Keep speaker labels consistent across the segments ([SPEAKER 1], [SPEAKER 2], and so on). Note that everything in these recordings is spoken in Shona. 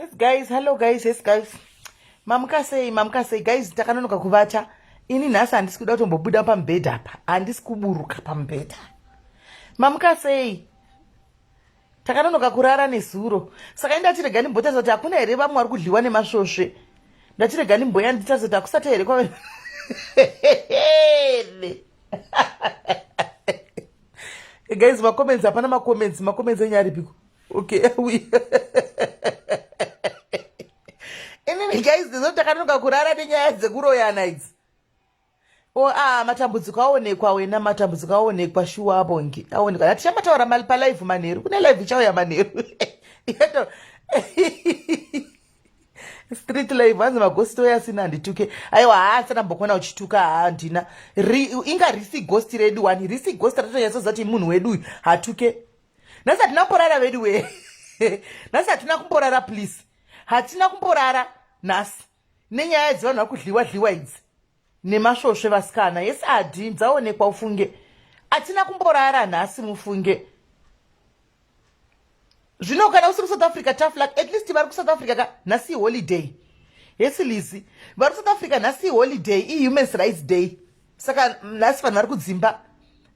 [SPEAKER 1] Yes guys, hello guys, yes guys. Mamuka sei, mamuka sei guys, takanonoka kuvata. Ini nhasi handisi kuda kutombobuda pamubhedha apa. Handisi kuburuka pamubhedha. Mamuka sei? takanonoka kurara nezuro saka indatirega ndimbotarisa kuti hakuna here vamwe vari kudliwa nemasvosve ndatirega ndimboya nditarisa kuti hakusati here kwave guys macomments hapana macomments macomments enye aripiko okay inini guys ndizo takanonoka kurara nenyaya dzekuroyana idzi Oh, ah, matambudziko aonekwa wena matambudziko aonekwa shuwa abongi aonekwa hati chamataura mali palive manheru kune live ichauya manheru yeto street live hanzi magosti oya asina handituke aiwa haa asati ambokuona uchituka haa handina inga risi gosti redu wani risi gosti ratotonyatsoziva kuti munhu wedu uyu hatuke nhasi hatina kumborara vedu wee nhasi hatina kumborara please hatina kumborara nhasi nenyaya dzevanhu vakudliwa dliwa idzi nemasvosve vasikana yes adi dzaonekwa ufunge atina kumborara nhasi mufunge zvino kana usiri kusouth africa tough luck at least vari kusouth africa ka nhasi iholiday hesi lizi vari kusouth africa nhasi iholiday ihuman rights day saka nhasi vanhu vari kudzimba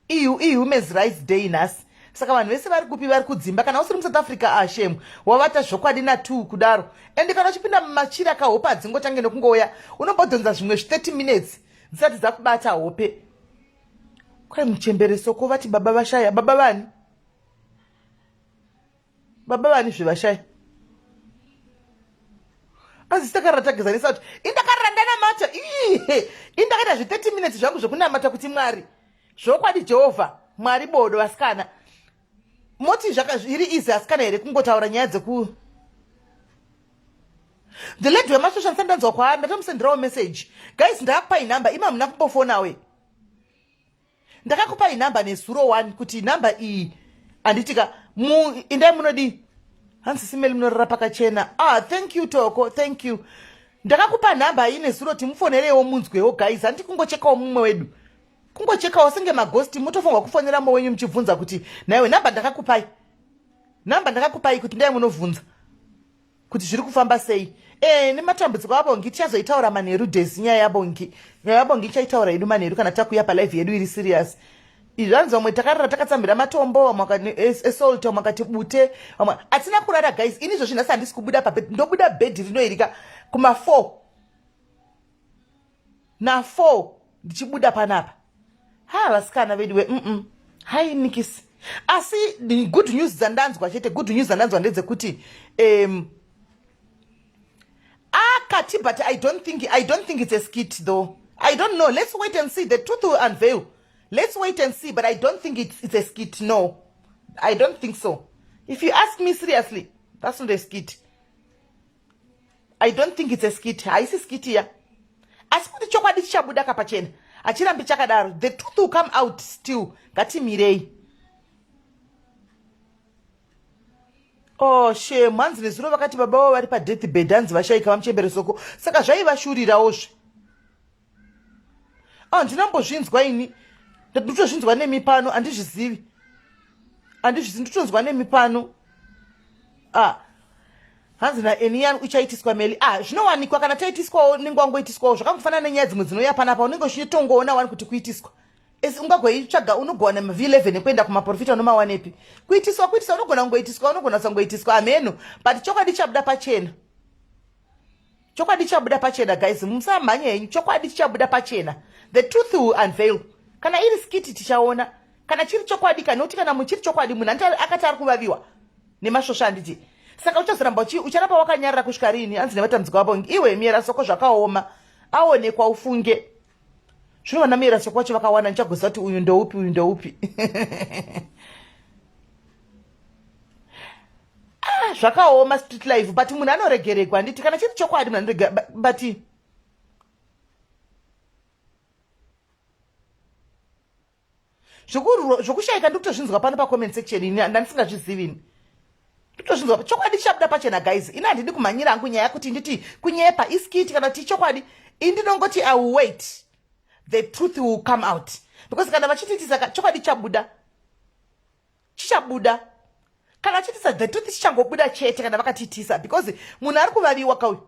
[SPEAKER 1] ihumans rights day nhasi saka vanhu vese vari kupi vari kudzimba kana usiri musouth africa ashemu ah, wavata zvokwadi natu kudaro ende kana uchipinda mumachiri akahope adzingotange nekungouya unombodhonza zvimwe zvi30 minutes dzisati dzakubata hope kwai muchemberesoko vati baba vashaya baba vani baba vani zvevashaya asi takarara tagezanisa kuti indakarara ndanamata ihe indakaita zve30 minutes zvangu zvekunamata kuti mwari zvokwadi jehovha mwari bodo vasikana moti zviri izi asikana here kungotaura nyaya dzeku the lady wemasvosva ndisandanzwa kwaari ndatomusendirawo message guys ndakupai number ima muna kumbofonawe ndakakupai number nezuro one kuti number iyi handitika indai munodii hanzi simeli munorara pakachena ah thank you toko thank you ndakakupa nhamba iyi nezuro kuti mufonerewo munzwewo guys handi kungochekawo mumwe wedu kungochekawo senge magosti mutofunga kufonera mumwe wenyu muchibvunza kuti naiwe nhamba ndakakupai nhamba ndakakupai kuti ndai munobvunza kuti zviri kufamba sei e, nematambudziko abongi tichazoitaura manheru desi nyaya yabongi nyaya yabongi ichaitaura yedu manheru kana takuya palive yedu iri serious izvi vanzi vamwe takarara takatsamhira matombo vamwe esalt vamwe akati bute vamwe hatina kurara guys ini izvozvi nhasi handisi kubuda pabed ndobuda bhedhi rinoirika kuma4 na 4 ndichibuda panapa ha vasikana vedu we mm hai nikisi asi good news dzandanzwa chete good news dzandanzwa ndedzekuti um, akati but i don't think i don't think it's a skit though i don't know let's wait and see the truth will unveil let's wait and see but i don't think it's, it's a skit no i don't think so if you ask me seriously that's not a skit i don't think it's a skit haisi skit ya asi kuti chokwadi chichabuda kapachena hachirambi chakadaro the truth will come out still ngatimirei oh shem hanzi nezuro vakati baba vavo vari padeath bed hanzi vashaika vamuchembere soko saka zvaivashurirawo zve handina mbozvinzwa ini ndotozvinzwa nemi pano handizvizivi handizvizivi ndotonzwa nemi pano ah hanzi naeniyan uchaitiswa meli ah zvinowanikwa kana taitiswawo nenge wangoitiswawo zvakangofanana nenyaya dzimwe dzinouya panapa unenge uchitongoona wani kuti kuitiswa asi ungagoitsvaga unogona v11 ekuenda kumaprofita unomawanepi kuitiswa kuitiswa unogona kungoitiswa unogona kusangoitiswa hameno but chokwadi chabuda pachena chokwadi chichabuda pachena guys musamhanye henyu chokwadi chichabuda pachena the truth will unveil kana iri skiti tichaona kana chiri chokwadi kana kuti kana muchiri chokwadi munhu anti akati ari kuvaviwa nemasvosva handiti saka uchazoramba uchi ucharapa wakanyarira kusvika rini hanzi nevatambudziko vavo iwe miyera soko zvakaoma aonekwa ufunge Zvino vana mera chekwacho vakawana ndichagoziva kuti uyu ndoupi uyu ndoupi. Ah, zvakaoma street life but munhu anoregeregwa handiti kana chiri chokwadi munhu anoregerega but zvokushayika ndikutozvinzwa pano pacomment section ini ndandisingazvizivi ini ndikutozvinzwa chokwadi chichabuda pachena guys ini handidi kumhanyira hangu nyaya kuti nditi kunyepa iskiti kana kuti chokwadi ini ndinongoti i will wait the truth will come out because kana vachitiitisa chokwadi chabuda chichabuda kana chitisa the truth chichangobuda chete kana vakatiitisa because munhu ari kuvaviwa kauyu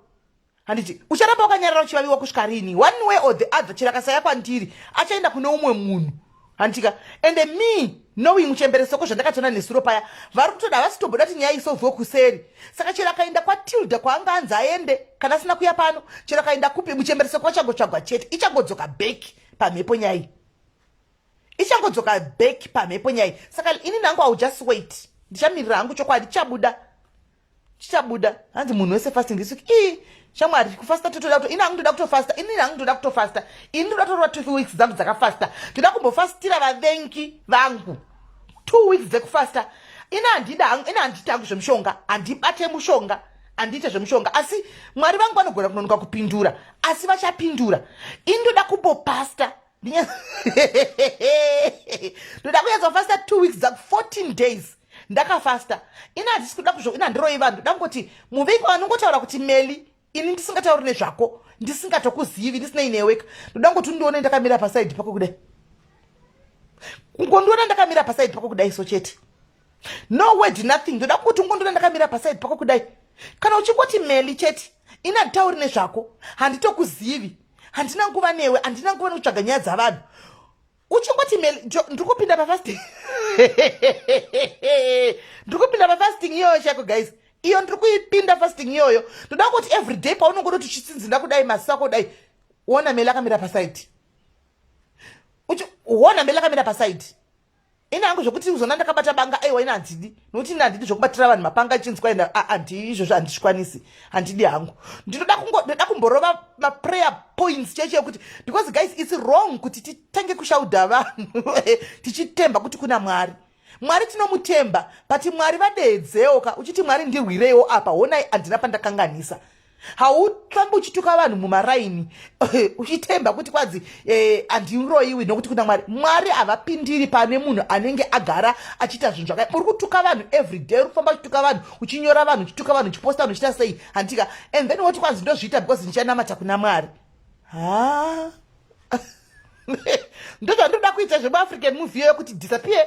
[SPEAKER 1] handiti ucharamba wakanyarara uchivaviwa kusvika rini one way or the other chero akasaya kwandiri achaenda kune umwe munhu handitika ende me knowing muchembere soko zvandakatona nesuro paya vari kutoda havasi toboda kuti nyaya isolvwe kuseri saka chero akaenda kwatilda kwaanga anzi aende kana asina kuya pano chero akaenda kupi muchembere soko achangotsvagwa chete ichangodzoka back pamhepo nyaya iyi ichangodzoka back pamhepo nyaya saka ini nangu iw just wait ndichamirira hangu chokwadi chichabuda chichabuda hanzi munhu wese fasting this week ii shamwari kufasta totoda kuto ini hangu ndoda kutofasta ini hangu ndoda kutofasta ini ndoda kutorova two weeks dzangu dzakafasta ndoda kumbofastira vavengi vangu two weeks dzekufasta ini handida hangu ini handiti hangu zvemushonga handibate mushonga handiite zvemushonga asi mwari vangu vanogona kunonoka kupindura asi vachapindura ini ndoda kumbopasta ndoda kuyedza kufasta two weeks dzaku 14 days ndakafasta ini handisi kuda kuzvo ini handiroyi vanhu ndoda kungoti muviki wanongotaura kuti meli ini ndisingatauri nezvako ndisingatokuzivi ndisinei neweka ndoda kungoti undione ndakamira pasaidi pako kudai kungondiona ndakamira pasaidi pako kudai so chete no word nothing ndoda kuti ungondona ndakamira paside pako kudai kana uchingoti meli chete ini handitauri nezvako handitokuzivi handina nguva newe handina nguva nekutsvaga nyaya dzavanhu uchingoti meli ndiri kupinda pafasting ndiri kupinda pafasting iyoyo chako guys iyo ndiri kuipinda fasting iyoyo ndoda kuti every day paunongoda kuti uchitsinzina kudai masako dai wona meli akamira pasaidi wona meli akamira pasaidi ini hangu zvokuti uzona ndakabata banga aiwa ini handidi nokuti ini handidi zvokubatira vanhu mapanga chinzwa ina handii izvozvo handizvikwanisi handidi hangu ndinoda ndoda kumborova maprayer points cheche yekuti because guys its wrong kuti titange kushauda vanhu tichitemba kuti kuna mwari mwari tinomutemba but mwari vadeedzeoka uchiti mwari ndirwireiwo apa honai handina pandakanganisa haufambi uchituka vanhu mumaraini uchitemba kuti kwanzi eh, handiroiwi nokuti kuna mwari mwari havapindiri pane munhu anenge agara achiita zvinhu zvakai uri kutuka vanhu every day uri kufamba uchituka vanhu uchinyora vanhu uchituka vanhu uchiposta vanhu uchiita sei handika and then woti kwanzi ndozviita because ndichanamata kuna mwari ha ndozvandoda kuita zvemuafrican movie yoyo kuti disappear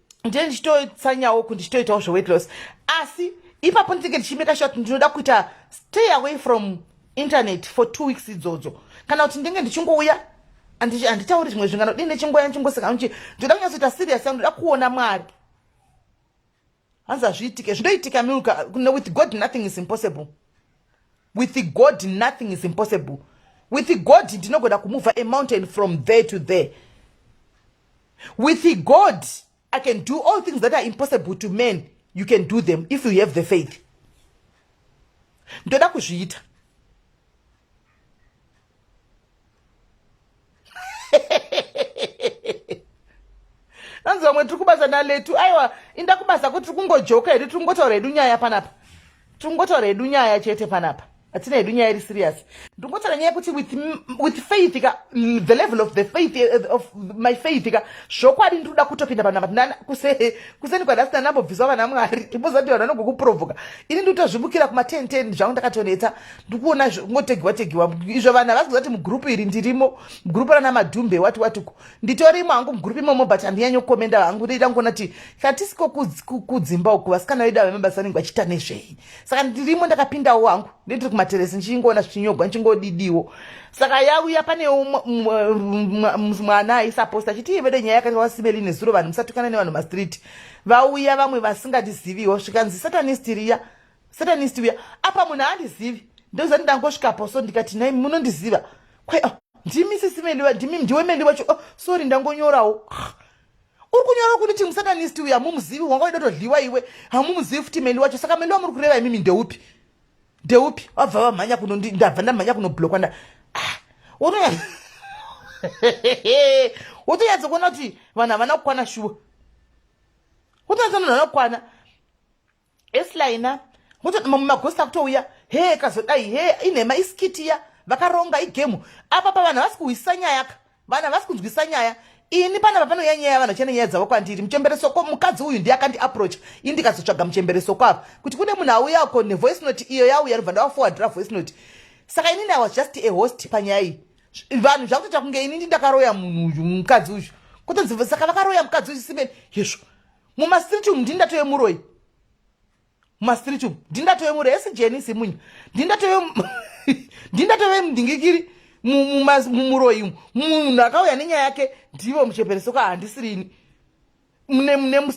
[SPEAKER 1] ndiye ndichitotsanyawo kuti ndichitoitawo zveweight loss asi ipapo ndinenge ndichimeka sure kuti ndinoda kuita stay away from internet for two weeks idzodzo kana kuti ndinenge ndichingouya handitauri zvimwe zvingano dii nechingoya ndichingoseka nchi ndinoda kunyatsoita serious yangu ndoda kuona mwari hanzi hazviitike zvinoitika milka with god nothing is impossible with god nothing is impossible with god ndinogona kumova amountain from there to there with god i can do all things that are impossible to men you can do them if you have the faith ndoda kuzviita anzi vamwe tiri kubasa naletu aiwa inda kubasa kuti tiri kungojoka hedu tiri kungotaura hedu nyaya panapa Tungotaura hedu nyaya chete panapa. Atina hedu nyaya iri serious. Ndingotaura nyaya kuti with with faith ka the level of the faith eh, of my faith ka zvokwadi ndinoda kutopinda panapa tinana kuse kuseni kwa last number bviswa vana Mwari. Ndibozati vanhu vanogokuprovoka. Ini ndotozvibukira kuma 10 10 zvangu ndakatonetsa. Ndikuona ngotegiwa tegiwa. Izvo vanhu havasi kuzati mu group iri ndirimo. Group rana madhumbe wati wati nditorimo hangu mugrupu imomo but handinyanye kukomenda hangu ndoita ngona ti katisiko kudzimba uku vasikana vedu avemabasa vanenge vachiita nezvei saka ndirimo ndakapindawo hangu nditiri kumateresi ndichingoona zvichinyogwa ndichingodidiwo saka yauya pane mwana aisaposta achiti ivede nyaya yakati wasimeli nezuro vanhu musatukana nevanhu mastreet vauya vamwe vasingatiziviwo zvikanzi satanistiriya satanist uya apa munhu aandizivi ndoziva ndangosvikapo so ndikati nai munondiziva kwai oh, ndimi sisi meliwa ndimi ndiwe meli wacho oh, sorry ndangonyorawo uri kunyora kunditi musatanist uya mumuzivi wanga waida todliwa iwe hamumuzivi futi meli wacho saka meli wamuri kureva imimi ndeupi ndeupi wabva vamhanya kuno ndabva ndamhanya kunoblokwa nda ah, wotonyatsa kuona kuti vanhu havana kukwana shuwa wotonyatsa kuti vanhu havana kukwana eslaina mototi mamwe magosi akutouya hee kazodai hee inhema iskitiya vakaronga igemu apa pa vanhu havasi kuhwisisa nyaya ka vanhu havasi kunzwisa nyaya ini panapa panouya nyaya yavanhu vachene nyaya dzavo kwandiri muchemberesoko mukadzi uyu ndiye akandi aproach ini ndikazotsvaga muchemberesoko apa kuti kune munhu auya uko nevoice note iyo yauya ndobva ndavafowadhira voice note saka inini i was just a host panyaya iyi vanhu zvakutoita kunge inini ndakaroya munhu uyu mukadzi uyu kutonzi saka vakaroya mukadzi uyu simeni hezvo mumastreet umu ndini ndatove muroyi mumastreet umu ndini ndatove muroyi esi jeni simunya ndini ndatove ndini ndatove mudingikiri mumuroyi umu munhu akauya nenyaya yake ndivo muchepereso ka handisirini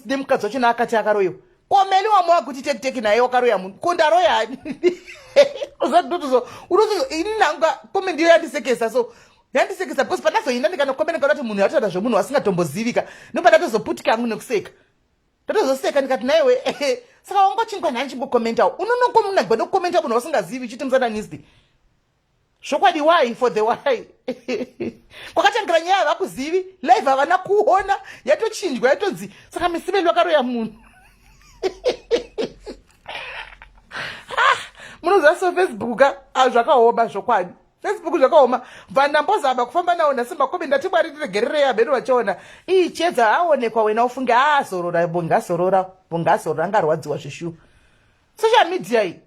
[SPEAKER 1] nemukadzi wacho naakati akaroyiwa komeli wambo wakuti tekiteki naye wakaroya munhu ko ndaroyani unotozo ini nanga kome ndiyo yandisekesa so yandisekesa because pandazoinda ndikanokomena kana kuti munhu yatotaura zvemunhu wasingatombozivika ndopandatozoputike angu nekuseka ndatozoseka ndikati naiwe ehe saka wangochinga nhani chimbokomentawo unonokomunagwa ndokomenta munhu wasingazivi uchiti musananisti zvokwadi why for the why kwakatangira nyaya havakuzivi live havana kuona yatochinjwa yatonzi saka misiveli vakaroya munhu ah, munoziva so facebook ka ah, zvakaoma zvokwadi Facebook zvakaoma bva ndambozama kufamba nawo nhasi makomi ndati mwari tiregererei amheno vachiona ii chiedza aonekwa wena ufunge aazorora bongazorora bongazorora angarwadziwa zveshu social media iyi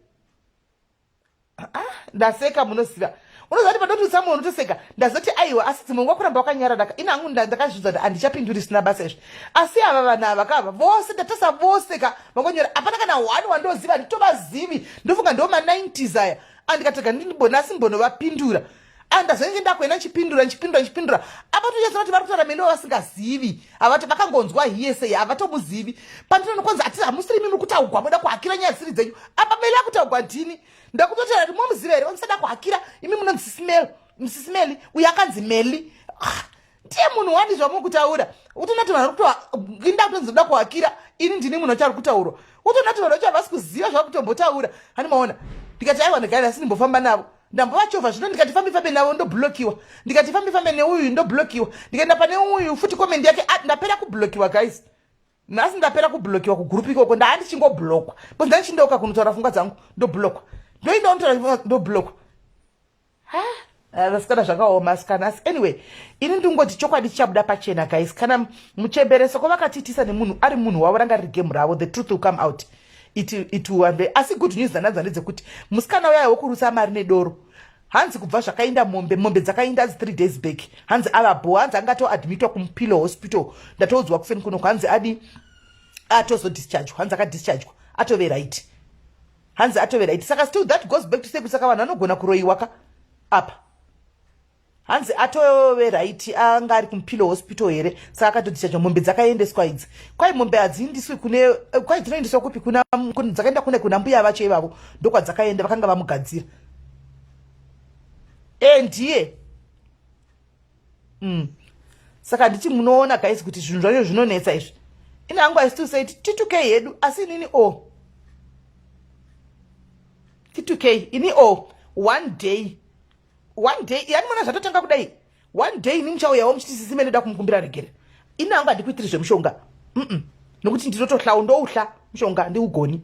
[SPEAKER 1] ah, ndaseka munoziva unozati padotisa munhu utoseka ndazoti aiwa asi dzimwe nguva kuramba wakanyaradaka ini hangu ndakazviudza kuti handichapinduri isina basa izvi asi ava vanhu ava kava vose ndatasa vose ka vakonyora hapana kana one wandoziva nditovazivi ndofunga ndo ma90s aya andikatega ndinibone asi mbonovapindura andazenge ndakuenda ndichipindura ndichipindura ndichipindura avatonyatsa kuti vari kutaura mene wavasingazivi havati vakangonzwa hiyese havatomuzivi pandinoona kwanzi ati hamusiri mimi kutaugwa moda kuhakira nyaya dzisiri dzenyu apa mele akutaugwa ndini ndakutotera kuti momuziva here vamusada kuhakira imi munonzi sisimelo musisimeli uyo akanzi meli ah, tiye munhu wani zvamuri kutaura utoona ti vanhu varikutoinda kutonzi ndoda kuhakira ini ndini munhu wachari kutaurwa utoona ti vanhu vacho havasi kuziva zvava kutombotaura hani maona ndikati aiwa ndagari asi ndimbofamba navo ndambovachovha zvino ndikati fambi fambe navo ndoblokiwa ndikati fambi fambe neuyu ndoblokiwa ndikaenda pane uyu futi komendi yake ah, ndapera kublokiwa guys nhasi ndapera kublokiwa kugrupu ikoko ndaa ndichingoblokwa bcause ndandichindoka kunotaura fungwa dzangu ndoblokwa ndoinda unotaura ndobloka vasikana zvakaoma asikana asi anyway ini ndingoti chokwadi chichabuda pachena guys kana muchembereso ko vakatiitisa nemunhu ari munhu wavo ranga riri gemu ravo the truth will come out it, it will be asi good news dzananza ndedzekuti musikana uyayo wokurusa mari nedoro hanzi kubva zvakainda mombe mombe dzakainda adzi three days back hanzi ava bho hanzi anga toadmitwa kumupillow hospital ndatoudzwa kuseni kunoko hanzi adi atozodischargwa hanzi akadischargwa atove right hanzi atove right saka still that goes back to say kuti saka vanhu vanogona kuroyiwa ka apa hanzi atove right anga ari kumupilo hospital here saka akatotichaja mombe dzakaendeswa idzi kwai mombe hadziindiswi kune eh, kwai dzinoendeswa kupi dzakaenda kune kuna mbuya vacho ivavo ndokwadzakaenda vakanga vamugadzira e ndiye mm. saka nditi munoona guys kuti zvinhu zvacho zvinonetsa izvi ini hangu i still say titukei hedu asi inini o oh. titukei ini o oh. one day one day yani mona zvatotanga kudai one day ini muchauyawo muchiti sisi me ndoda kumukumbira regera ini hangu handikuitiri zvemushonga mm -mm. nokuti ndinotohlawo ndouhla mushonga ndiugoni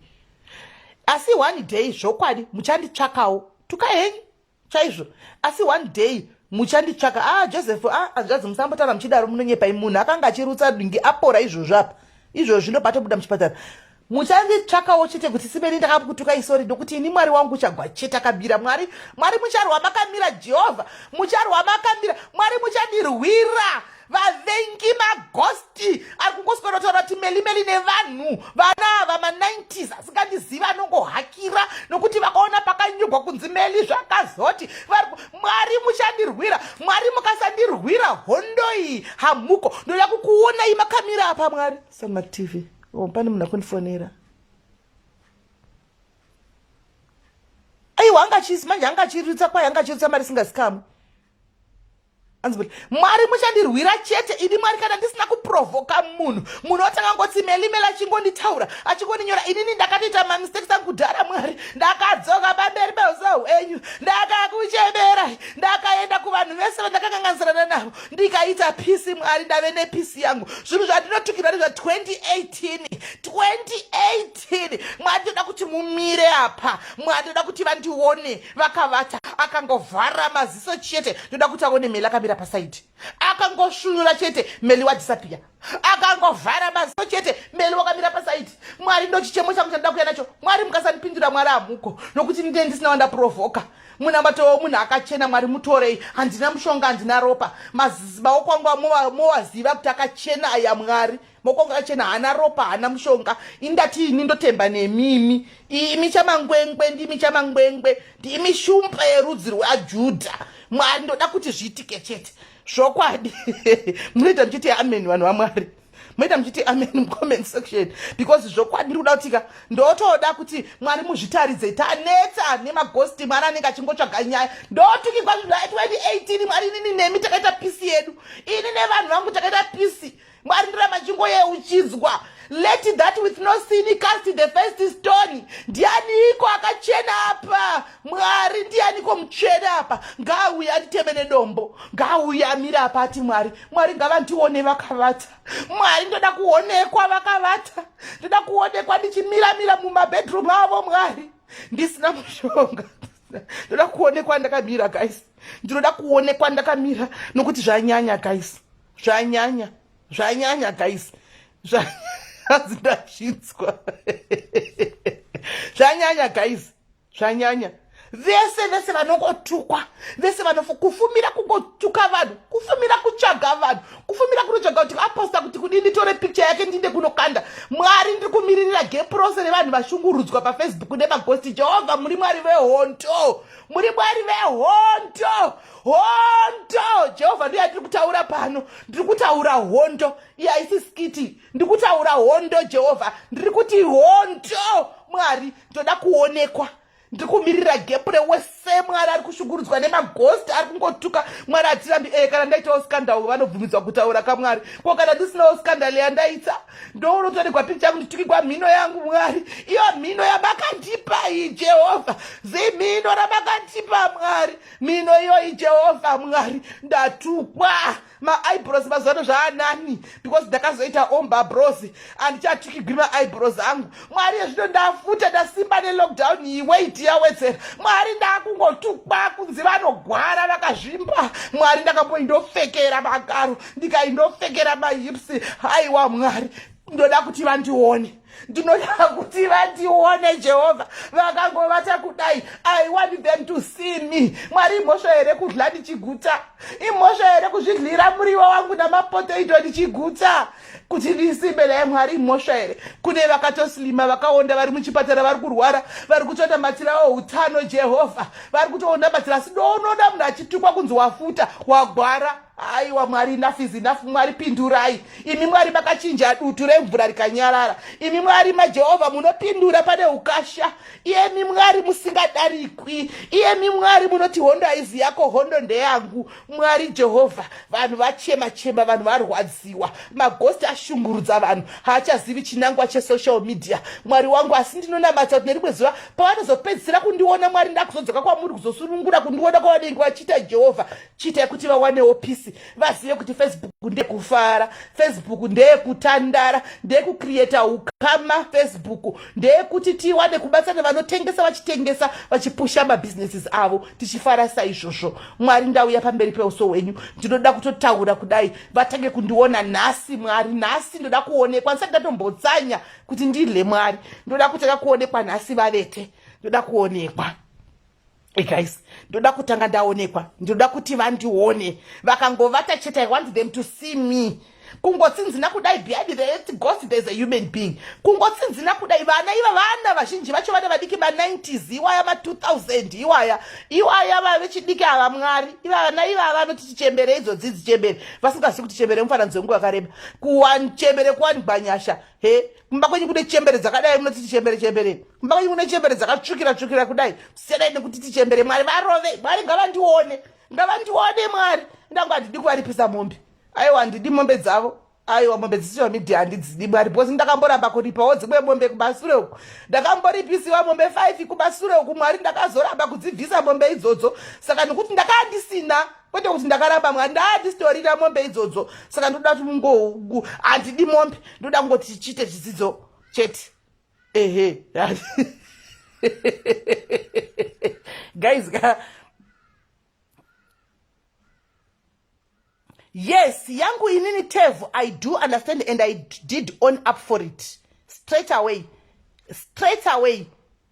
[SPEAKER 1] asi one day zvokwadi muchanditsvakawo tukahenyu chaizvo asi one day muchanditsvaka a ah, joseph a ah, hanzvadzi musambotaura muchidaro munonyepai munhu akanga achirutsa dingi apora izvozvo apa izvozvi ndopatobuda muchipatara muchanditsvakawo chete kuti simeni ndakakutuka isori ndokuti ini mwari wangu uchagwa chete akabira mwari mwari mucharwa makamira jehovha mucharwa makamira mwari muchandirwira vavengi magosti ari kungoswera kutaura kuti melimeli nevanhu vana ava ma90s asingandizivi anongohakira nokuti vakaona pakanyorwa kunzi meli zvakazoti mwari muchandirwira mwari mukasandirwira hondo iyi hamuko ndoda kukuonai makamira apa mwari samatv oh, pane munhu akundifonera aiwa anga chisi manje anga chirutsa kwaye anga chirutsa mari singazikamu anzi kuti mwari muchandirwira chete ini mwari kana ndisina kuprovhoka munhu munhu otanga ngoti melimela achingonditaura achingoninyora inini ndakatoita mamistakes angu kudhara mwari ndakadzoka pamberi peusahu enyu ndakakuchemera ndakaenda kuvanhu vese vandakanganganisirana navo ndikaita pisi mwari ndave nepisi yangu zvinhu zvandinotukirwa nezva 2018 2018 still mwari toda kuti mumire apa mwari toda kuti vandione vakavata akangovhara maziso chete toda kuti aone meli akamira pasaidi akangoshunura chete meli wadhisapiya akangovhara maziso chete meli wakamira pasaidi mwari ndo chichemo changu chandoda kuya nacho mwari mukasandipindura mwari hamuko nokuti ndine ndisina wandaprovoka munamatowo munhu akachena mwari mutorei handina mushonga handina ropa mazibawo kwangu mowaziva kuti akachena aya mwari moko ngachena hana ropa hana mushonga indati ini ndotemba nemimi imi chamangwengwe ndimi chamangwengwe ndimi shumba yerudzi rwajudha mwari ndoda kuti zviitike chete zvokwadi munoita muchiti ameni vanhu vamwari moita muchiti amen mucomment section because zvokwadi ndiri kuda kutika ndotoda kuti mwari muzvitaridze tanetsa nemagosti mwari anenge achingotsvaga nyaya ndotukikwa zvinhu zvaitwa 2018 mwari inini nemi takaita pisi yedu ini nevanhu vangu takaita pisi mwari ndiramba chingoyeuchidzwa let that with no sin cast the first stone ndianiko akachena apa mwari ndianiko mutsvene apa ngaauye atiteme nedombo ngaauye amire apa ati mwari mwari ngavandione vakavata mwari ndoda kuonekwa vakavata ndoda kuonekwa ndichimiramira mumabedroom avo mwari ndisina mushonga ndoda kuonekwa ndakamira guys ndinoda kuonekwa ndakamira nokuti zvanyanya guys zvanyanya zvanyanya guys zvanzi ndazvinzwa zvanyanya guys zvanyanya vese vese vanongotukwa vese vanofa kufumira kungotuka vanhu kufumira kutsvaga vanhu kufumira kunotsvaga kuti aposta kuti kudii nditore picture yake ndinde kunokanda mwari ndiri kumiririra gepu rose revanhu vashungurudzwa pafacebook nemagosti jehovha muri mwari vehondo muri mwari vehondo hondo jehovha ndiye atiri kutaura pano ndiri kutaura hondo iye haisi skiti ndiri kutaura hondo jehovha ndiri kuti hondo mwari ndoda kuonekwa ndiri kumirira gepu rewese mwari ari kushungurudzwa nemagosti ari kungotuka mwari hatirambi ee eh, kana ndaitawo skandal vanobvumidzwa kutaura kamwari ko kana ndisinawo skandal yandaita ndounotoregwa picha yangu nditukigwa mhino yangu mwari iyo mhino yamakandipa iyi jehovha zimhino ramakandipa mwari mino iyoyi jehovha mwari ndatukwa maibros mazuvano zvaanani because ndakazoita omba bros andichatukigwi maibros angu mwari ezvino ndafuta ndasimba nelockdown iyi weit yawedzera mwari ndakungotukwa kunzi vanogwara vakazvimba mwari ndakamboindofekera magaro ndikaindofekera mahips haiwa mwari ndoda kuti vandione ndinoda kuti vandione jehovha vakangovata kudai i want them to see me mwari imhosva here kudla ndichigutsa imhosva here kuzvidlira muriwo wangu namapotaito ndichigutsa kuti ndisimbe naye mwari imhosva here kune vakatoslima vakaonda vari muchipatara vari kurwara vari kutoita matsira outano jehovha vari kutoonda matsira asi ndoonoda munhu achitukwa kunzi wafuta wagwara aiwa mwari enough is enough mwari pindurai imi mwari makachinja dutu remvura rikanyarara imi mwari majehovha munopindura pane ukasha iyemi mwari musingadarikwi iyemi mwari munoti hondo haizi yako hondo ndeyangu mwari jehovha vanhu vachema chema vanhu varwadziwa magosti ashungurudza vanhu haachazivi chinangwa chesocial media mwari wangu asi ndinonamatsa kuti nerimwe zuva pavanozopedzisira kundiona mwari ndakuzodzoka kwamuri kuzosunungura kundiona kwavanenge vachiita jehovha chiitai kuti vawanewo pisi vazive kuti facebook ndekufara facebook ndeyekutandara ndeyekucreata ukama facebook ndeyekuti tiwane kubatsira nevanotengesa vachitengesa vachipusha mabhizinesis avo tichifara saizvozvo mwari ndauya pamberi peuso hwenyu ndinoda kutotaura kudai vatange kundiona nhasi mwari nhasi ndoda kuonekwa ndisati ndatombotsanya kuti ndidle mwari ndoda kutanga kuonekwa nhasi vavete ndoda kuonekwa Hey eh, guys, ndoda kutanga ndaonekwa, ndoda kuti vandione. Vakangovata chete, I want them to see me. Kungotsinzina kudai behind the ghost there's a human being. Kungotsinzina kudai vana iva vana vazhinji vacho vana vadiki ma 90s iwaya ma 2000 iwaya iwaya vavechidiki ava mwari iva vana iva vanoti tichembere idzo dzidzi chembere vasingazivi kuti chembere mufananidzo wenguva yakareba kuwan chembere kuwanikwa nyasha he kumba kwenyu kune chembere dzakadai munoti tichembere chembere kumba kwenyu kune chembere dzakatsvukira tsvukira kudai siyanai nekuti tichembere mwari varove mwari ngavandione ngavandione mwari ndangu handidi kuvaripisa mombe aiwa handidi mombe dzavo aiwa mombe dzisiva midhi handidzidi mwari bcause ndakamboramba kuripawo dzimwe mombe kumasure uku ndakamboripisiwa mombe five kumasure uku mwari ndakazoramba kudzibvisa mombe idzodzo saka nekuti ndakaa ndisina kwete kuti ndakaramba mwari ndaatitorira mombe idzodzo saka ndoda kuti mungogu handidi mombe ndoda kungoti chichiite chidzidzo chete ehe guys ka yes yangu inini tev i do understand and i did on up for it straight away straight away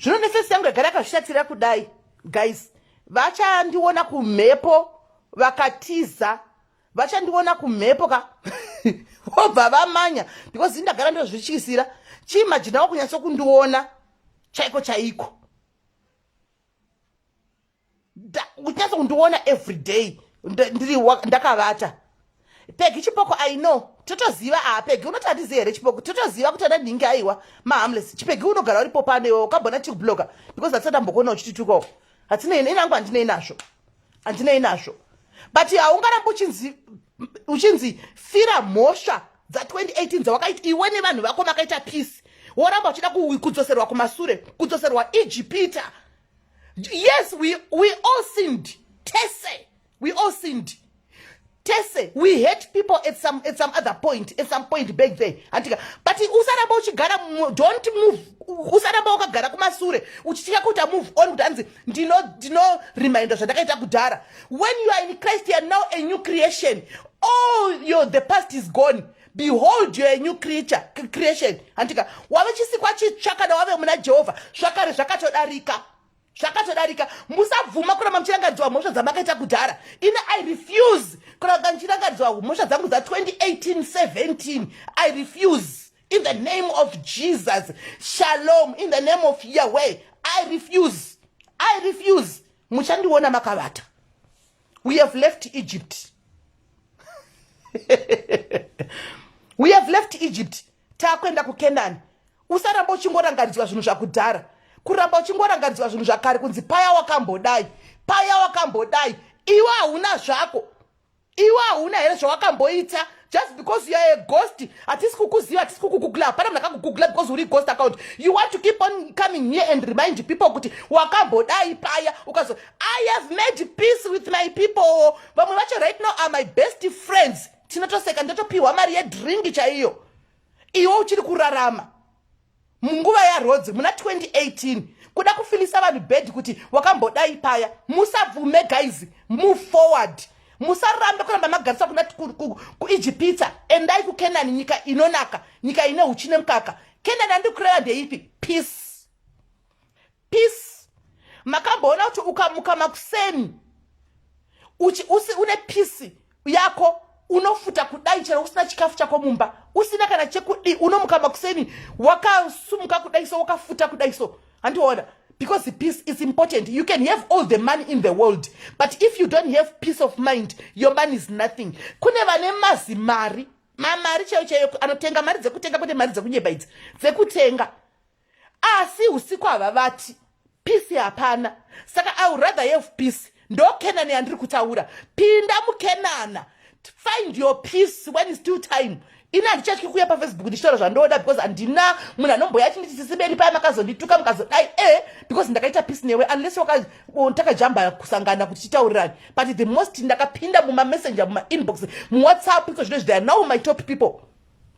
[SPEAKER 1] zvino nefesi yangu yagara yakazvishatira kudai guys vachandiona kumhepo vakatiza vachandiona kumhepo ka vobva vamanya because ini ndagara ndozvityisira chiimajinawo kunyatso kundiona chaiko chaiko kunyatsa kundiona everyday ndiri ndakavata pegi chipoko i know totoziva a ah, pegi unoti handizi here chipoko totoziva kuti ana ndingi aiwa mahamles chipegi unogara uripo pano iwe ukambona tikubloga because hatisati ambokuona uchititukawo hatina ine inangu handinei nazvo handinei nazvo but haungarambi uchinzi uchinzi fira mhosva dza2018 dzawakaita iwe nevanhu vako makaita peace woramba uchida kudzoserwa kumasure kudzoserwa ijipita yes we, we all sinned tese we all sinned tese we hate people at some, at some other point at some point back there hantika but usaramba uchigara don't move usaramba wakagara kumasure uchitya kuti amove on kuti anzi ndinoreminder zvandakaita kudhara when you are in christ you are now a new creation all your the past is gone behold you're a new creature creation handika wave chisikwa chitsva kana wave muna jehovha zvakare zvakatodarika zvakatodarika musabvuma kuramba muchirangaridzwa mhosva dzamakaita kudhara ini i refuse kuramba ndichirangaridzwa mhosva dzangu dza 2018 17 i refuse in the name of jesus shalom in the name of yahweh i refuse i refuse muchandiona makavata we have left egypt we have left egypt takuenda kukenani usaramba uchingorangaridzwa zvinhu zvakudhara kuramba uchingorangaridzwa zvinhu zvakare kunzi paya wakambodai paya wakambodai iwe hauna zvako iwe hauna here zvawakamboita just because you are a ghost hatisi kukuziva hatisi kukugugla hapana munhu akakugugla because uri ghost account you want to keep on coming here and remind people kuti wakambodai paya ukazo i have made peace with my people vamwe vacho right now are my best friends tinotoseka ndotopiwa mari yedringi chaiyo iwe uchiri kurarama munguva yarhodzi muna 2018 kuda kufilisa vanhu bed kuti wakambodai paya musabvume guys move forward musarambe kuramba magarisa kuna kuijipitsa endai kukenani nyika inonaka nyika ine huchi nemukaka kenani andikureva ndeipi peace peace makamboona kuti ukamuka makuseni uchi usi une peace yako unofuta kudai chero usina chikafu chako mumba usina kana chekudi unomuka makuseni wakasumuka kudai so wakafuta kudai so handiona because the peace is important you can have all the money in the world but if you don't have peace of mind your money is nothing kune vane mazi mari mamari chaiyo chaiyo anotenga mari dzekutenga kwete mari dzekunyeba idzi dzekutenga asi usiku hava vati peace hapana saka i would rather have peace ndo kenani yandiri kutaura pinda mukenana find your peace when is still time ini handichatyi kuuya pafacebook ndichitaura zvandoda because handina munhu anomboya achinditi sisiberi paya makazondituka mukazodai e because ndakaita peace newe unless takajamba kusangana kuti titaurirani but the most ndakapinda mumamessenger mumainbox muwhatsapp iko zvino izvi they are now my top people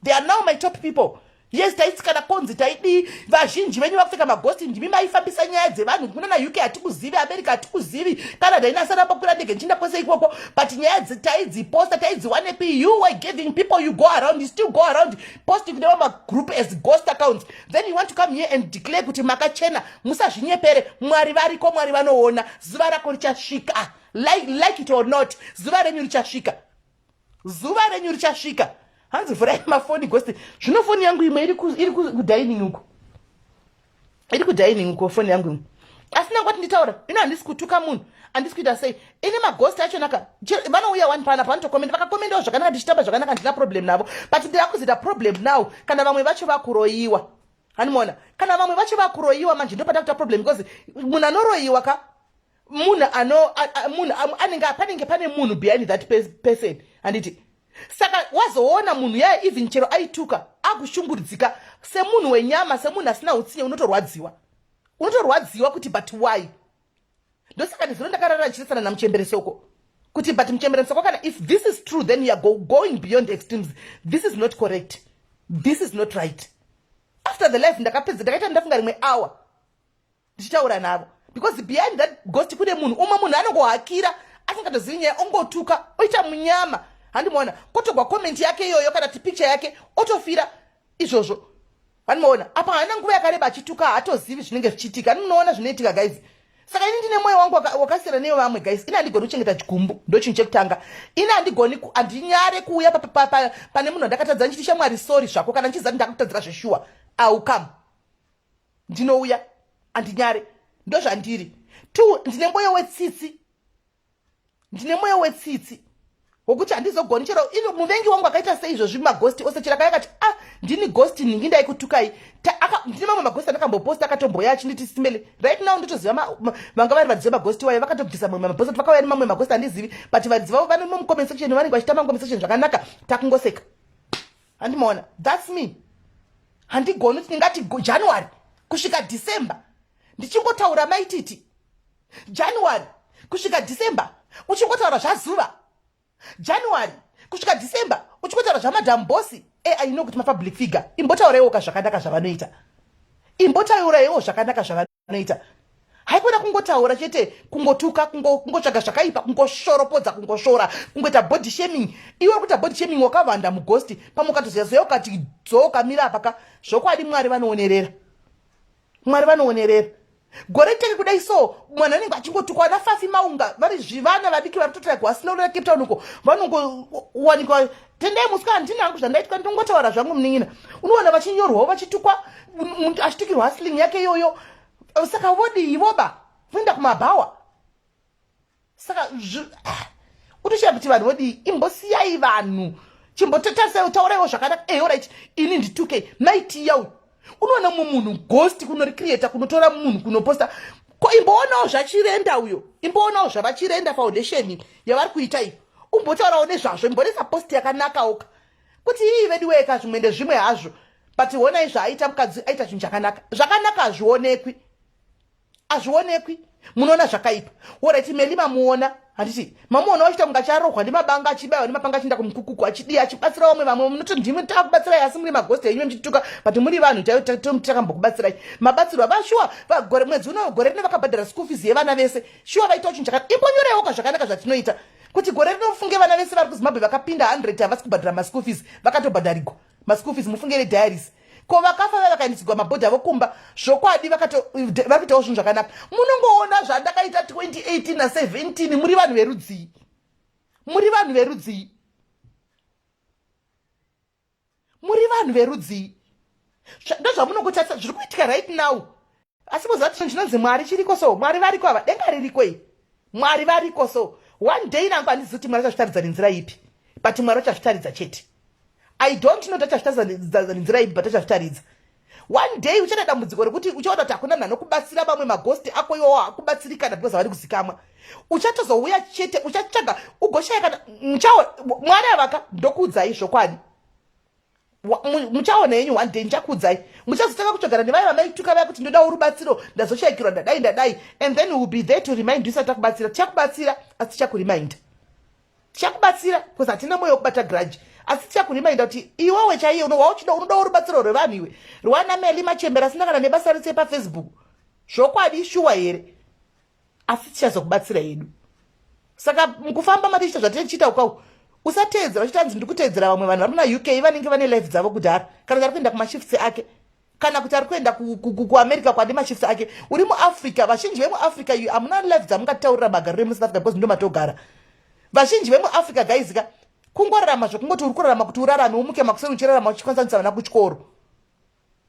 [SPEAKER 1] they are now my top people yes taitsikana konzi taidii vazhinji venyu vakupfeka magosti ndimi maifambisa nyaya dzevanhu kuno na uk hatikuzivi america hatikuzivi canada inasara pakwira ndege ndichinda kwese ikoko but nyaya taidziposta taidziwanepi you were giving people you go around you still go around posting kune vamagroup as ghost accounts then you want to come here and declare kuti makachena musazvinyepere mwari variko mwari vanoona zuva rako richasvika like, like it or not zuva renyu richasvika zuva renyu richasvika hanzi vhurai mafoni gosti zvino foni yangu imwe iri kudining uko iri kudining uko foni yangu imwe asi nangu ati nditaura ino handisi kutuka munhu handisi kuita sei ini magosti achonaka vanouya wani pana panotokomenda vakakomendawo zvakanaka ndichitamba zvakanaka handina problem navo but ndira kuzoita problem now kana vamwe vacho vakuroyiwa hanimona kana vamwe vacho vakuroyiwa manje ndopata kuita problem because munhu anoroyiwa ka munhu ano munhu anenge panenge pane munhu behind that person handiti saka wazoona munhu yaya even chero aituka akushungurudzika semunhu wenyama semunhu asina utsinye unotorwadziwa unotorwadziwa kuti but why ndosaka nezuro ndakarara ndichirasana namuchemberesoko kuti but muchemberesoko kana if this is true then youare go, going beyond extremes this is not correct this is not right after the life ndakapedza ndakaita ndafunga rimwe hour ndichitaura navo because behind that ghost kune munhu umwe munhu anongohakira asingatozivi nyaya ongotuka oita munyama handimaona kotogwa komenti yake iyoyo kana kuti picture yake otofira izvozvo handimaona apa haana nguva yakareba achituka haatozivi zvinenge zvichiitika aninoona zvinoitika guys saka ini ndine mwoyo wangu wakasiyana neyo vamwe guys ini handigoni kuchengeta chigumbu ndochinhu chekutanga ini handigoni handinyare kuuya pane munhu andakatadza ndichiti shamwari sori zvako kana ndichiziva kuti ndakakutadzira zveshuwa aukam ndinouya andinyare ndozvandiri two ndine mwoyo wetsitsi ndine mwoyo wetsitsi wokuti handizogoni chero ino muvengi wangu akaita sei izvozvi magosti ose chero akaya kati ah ndini gosti nhingi ndaikutukai ndine mamwe magosti andakamboposta akatomboya achinditi simele right now ndotoziva vanga vari vadziva magosti wayo vakatobvisa mamwe magosti kuti vakauya nemamwe magosti handizivi but vadziva vanomo mucomment section vanenge vachita mancomment section zvakanaka takungoseka handimaona thats me handigoni kuti ndingati january kusvika december ndichingotaura maititi january kusvika december uchingotaura zvazuva january kusvika december uchingotaura zvamadam bosi e aino kuti mapublic figure imbotaurewoka zvakanaka zvavanoita imbotaurewo zvakanaka zvavano anoita haikona kungotaura chete kungotuka kungotsvaga zvakaipa kungoshoropodza kungoshora kungoita body shaming iwe uri kuita body shaming wakavanda mugosti pamwe ukatoziyazoya ukati dzoo ukamira apaka zvokwadi mwari vanoonerera mwari vanoonerera gore tenge kudai so mwana anenge achingotukwa ana fafi maunga vari zvivana vadiki vari kutotaigwa asina urira cape town uko vanongowanikwa tendai musikana ndini hangu zvandaitwa ndongotaura zvangu munin'ina unoona vachinyorwawo vachitukwa achitukirwa hustling yake iyoyo saka vodii voba voenda kumabhawa saka ah, utoshaya kuti vanhu vodii imbosiyai vanhu chimbototarisai utauraiwo zvakanaka eorit eh, ini ndituke maitiya uyu unoona mumwe munhu ghost kunoricreata kunotora munhu kunoposta ko imboonawo zvachirenda uyo imboonawo zvavachirenda foundation yavari kuita iyo umbotaurawo nezvazvo imbonesa post yakanakawoka kuti ii veduweka zvimwe ndezvimwe hazvo but honai zvaaita mukadzi aita chinhu chakanaka zvakanaka hazvionekwi azvionekwi munoona zvakaipa orit meli mamuona handiti mamuona wachita kunga charohwa ndimabanga achibaiwa ndimapanga achienda kumukukuku achidii achibatsira vamwe vamwe munoti ndimwe takubatsirai asi muri magosti enyu muchituka but muri vanhu takambokubatsirai mabatsirwa vashuwa vagore mwedzi uno gore rino vakabhadhara school fees yevana vese shuwa vaitawo chinhu chakati imbonyorewo ka zvakanaka zvatinoita kuti gore rino mufunge vana vese vari kuzimbabwe vakapinda 100 havasi kubhadhara maschool fees vakatobhadharigwa maschool fees mufunge vediaries ko vakafa vaya vakaendesegwa mabhodhi avo kumba zvokwadi vakaitawo zvinhu zvakanaka munongoona zvandakaita 2018 na 17 muri vanhu verudzii muri vanhu verudzii muri vanhu verudzii ndozvamunokutarisa zviri kuitika right now asi moziva kuti chinonzi mwari chiriko so mwari variko ava denga ririko iyi mwari variko so one day nangu handizi kuti mwari achazvitaridza nenzira ipi but mwari achazvitaridza chete i don't know tachazvitaridza nenzira ipi but achazvitaridza one day uchada dambudziko rekuti uchaona kuti hakuna nhano kubatsira vamwe magosti ako iwawo hakubatsirikana because havari kuzikamwa uchatozouya chete uchatsvaga ugoshaya kana muchawo mwari avaka ndokuudzai zvokwadi muchaona yenyu one day ndichakuudzai muchazotanga kutsvagana nevaya vamaituka vaya kuti ndodawo rubatsiro ndazoshaikirwa ndadai ndadai and then will be there to remind you sati takubatsira tichakubatsira asi tichakurimind tichakubatsira bcause hatina moyo wekubata grudge asi tichakurimainda kuti iwewe chaiye wauchida unodawo rubatsiro rwevanhu iwe rwana meli machembera asina kana nebasa rese pafacebook zvokwadi shuwa here asi tichazokubatsira yedu saka mukufamba matichita zvatichiita ukaku usateedzera uchita hanzi ndikuteedzera vamwe vanhu vari muna uk vanenge vane life dzavo kudhara kana kuti ari kuenda kumashifts ake kana kuti ari kuenda kuamerica kwadi mashifts ake uri muafrica vazhinji vemuafrica iyo hamuna life dzamungataurira magariro emusouth africa because ndo matogara vazhinji vemuafrica gaizika kungorarama zvekungoti uri kurarama kuti urarame umuke makuseni uchirarama uchikwanisanisa vana kuchikoro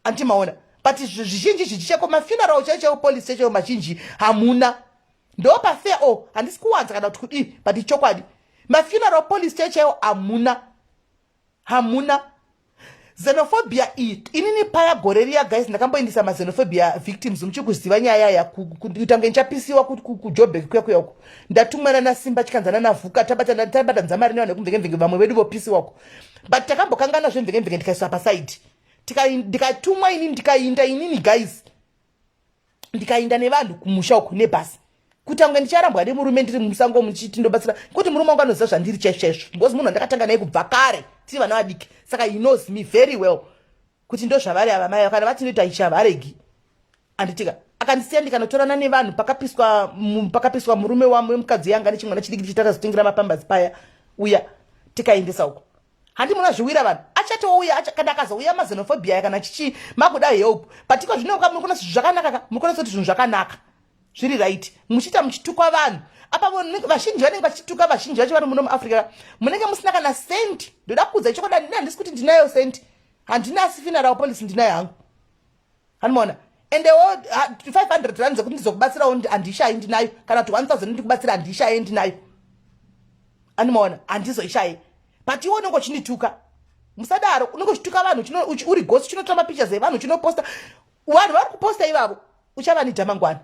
[SPEAKER 1] anti maona but zvizhinji zhinji cheko mafuneral chaicho chaiwo police chaicho mazhinji hamuna ndo pafair o oh, handisi kuwanza kana kuti kudii but ichokwadi mafuneral police chaicho chaiwo hamuna hamuna xenophobia iyi inini paya gore riya guys ndakamboindisa maxenophobia victims muchiri kuziva nyaya yaya kutange ndichapisiwa kujobek kuya kuya uko ndatumwana nasimba chikanzana navhuka tabatanza mari nevanhu vekumvenge mvenge vamwe vedu vopisiwa uko but takambokangana zvemvenge mvenge ndikaiswa pasaidi ndikatumwa ini ndikainda inini guys ndikainda nevanhu kumusha uku nebhasi kutanga ndicharambwa nemurume ndiri musango muchiti ndobatsira kuti murume wangu anoziva zvandiri chaizvoizvo because munhu wandakatanga naye kubva kare tiri vana vadiki saka he knows me very well kuti ndozvavari ava mai kana vatinoita ichavaregi anditika akandisiya ndikanotorana nevanhu pakapiswa pakapiswa murume wamwe mukadzi yanga nechimwana chidiki ndichiti akazotengera mapambazi paya uya tikaendesa uko handi muna zviwira vanhu achatouya kana akazouya mazenophobia ya kana chichi makuda help but iko zvino muri kuona zvinhu zvakanaka ka muri kuona kuti zvinhu zvakanaka zviri right muchiita muchitukwa vanhu apa vazhinji vanenge vachituka vazhinji vacho vari muno muafrica munenge musina kana cent ndoda kuudza chokwadi handina handisi kuti ndinayo cent handina asi finarawo policy ndinayo hangu anomaona endewo 500 rand dzekuti ndizokubatsirawo handishayi ndinayo kana kuti 1000 ndikubatsira handishaye ndinayo anomaona handizoishaye but iwe unenge uchinituka musadaro unenge uchituka vanhu uri gosi chinotora mapictures evanhu chinoposta vanhu vari kuposta ivavo uchava nidhamangwana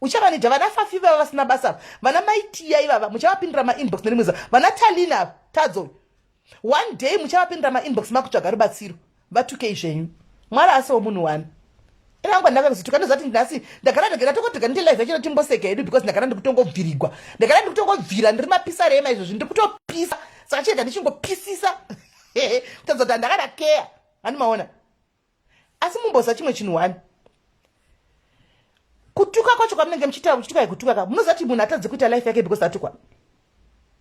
[SPEAKER 1] uchavanidha vana fafi vava vasina basa ava vana maitiya ivava muchavapindira mainbox nerimweza vana talina ava tadzo one day muchavapindira mainbox makutsvaga rubatsiro vatukei zvenyu mwari asiwo munhu wani inangwa ndakazotuka ndozati nhasi ndagara ndagara tokotoga ndite life yachino timboseka hedu because ndagara ndikutongobvirigwa ndagara ndikutongobvira ndiri mapisa rema izvozvi ndiri kutopisa saka chega ndichingopisisa kutadza kuti handakada keya handimaona asi mumboziva chimwe chinhu wani kutuka kwacho kwamunenge muchitaura muchituka yekutuka ka munoziva kuti munhu atadzi kuita life yake because atukwa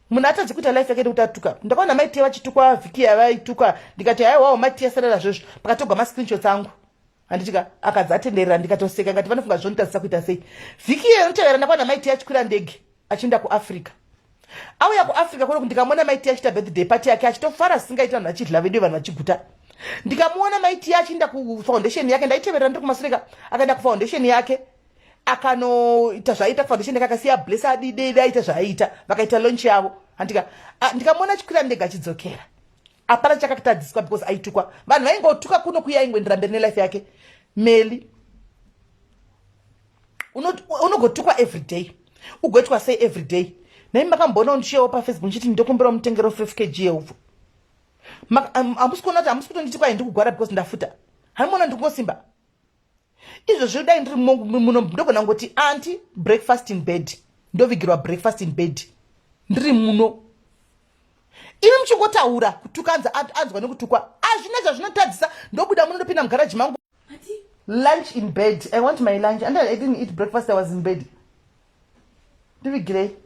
[SPEAKER 1] munhu atadzi kuita life yake nekuti atuka ndakaona maitia vachitukwa vhiki yavaituka ndikati haiwawo maitia sarara zvezvo pakatogwa mascreenshots angu handitika akadzi atenderera ndikatoseka ngati vanofunga zvonitadzisa kuita sei vhiki iyo inotevera ndakaona maitia achikwira ndege achienda kuafrica auya kuafrica kune ndikamona maiti achiita birthday party yake achitofara singaita vanhu vachidla vedu vanhu vachiguta ndikamuona maiti achienda kufoundation yake ndaiteverera ndiri kumasireka akaenda kufoundation yake akanoita zvaiita kufoundation yake akasiya bless adidede aita zvaiita vakaita launch yavo andika ndikamuona achikwira ndega achidzokera apana chakatadziswa because aitukwa vanhu vaingotuka kuno kuya aingoendera mberi nelife yake meli unogotukwa uno every day ugoitwa sei every day nai makamboona ndichiyawo pafacebook ndichiti ndokumbirawo mutengero 5 kg yeupfu hamusi kuona kuti hamusi kutonditi kwai ndikugwara because ndafuta hamuona ndikukosimba izvozvo dai ndiri muno ndogona ngoti anti breakfast in bed ndovigirwa breakfast in bed ndiri muno imi muchingotaura kutukanza anzwa nekutukwa azvina zvazvinotadzisa ndobuda muno ndopinda mugaraji mangu lunch in bed i want my lunch and i didn't eat breakfast i was in bed ndivigirei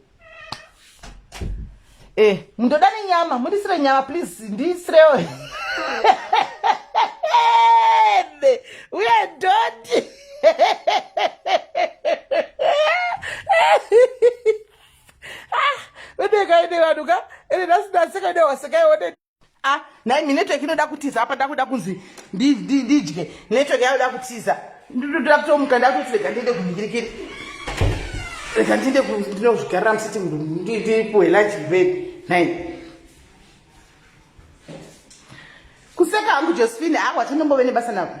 [SPEAKER 1] eh mundoda nenyama mundisire nyama please ndisirewo uye doti ah, vedekai nevanhu ka ene ndasina sekaide wasekaione a ah, nhai mi network inoda kutiza apa ndakuda kunzi ndidye network yayoda kutiza ndinoda kutomuka ndakutoti rega ndiende kumhingirikiri rega ndiende ndinozvigarira musiti ndipuwe lunch bed nhai kuseka hangu josephine akwa ah, tinombove nebasa nako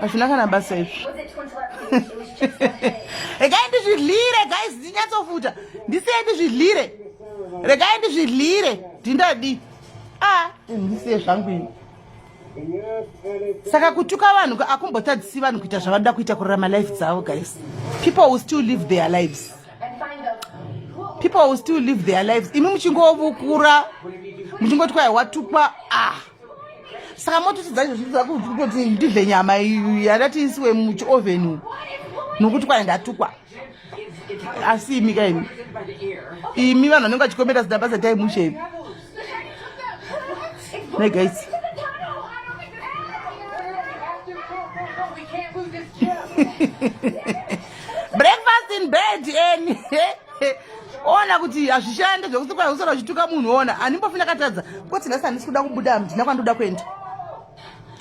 [SPEAKER 1] hazvina kana basa izvi regai ndizvidlire guys ndinyatsofuta ndisiye ndizvidlire regai ndizvidlire ndindadi a ah, ndisiye zvangu ini saka kutuka vanhu akumbotadzisi vanhu kuita zvavanoda kuita kurarama life dzavo guys people will still live their lives people will still live their lives imi muchingovukura muchingoti kwai watukwa ah saka mototi dzacho zvitoti ndidle nyama yandati isiwe muchiovheni nokuti kwana ndatukwa asi imi ka imi imi vanhu vanenge vachikomera zidaba zataimushevi negaisi breakfast in bed eni ona kuti hazvishande zvekuti kwai usara uchituka munhu ona handimbofi ndakatadza koti nhasi handisi kuda kubuda handina kwandoda kuenda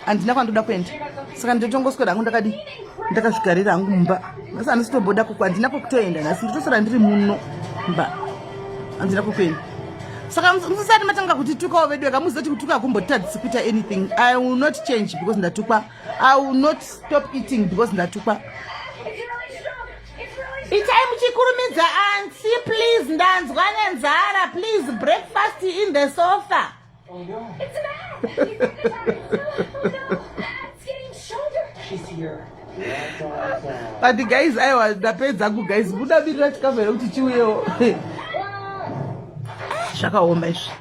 [SPEAKER 1] handina kwandoda kuenda saka ndotongoswera hangu ndakadi ndakazvigarira hangu mumba nhasi handisi kutomboda kuku handina kwekutoenda nhasi ndotosara ndiri muno mba handina kwekuenda saka musisati matanga kutitukawo vedu eka muzoti kutuka kumbotadzisi kuita anything i will not change because ndatukwa i will not stop eating because ndatukwa itai muchikurumidza ansi please ndanzwa nenzara please breakfast in the sofa
[SPEAKER 2] oh,
[SPEAKER 1] no. but guys aiwa ndapedza ku guys buda biri rachikafa here kuti chiuyewo zvakaoma izvi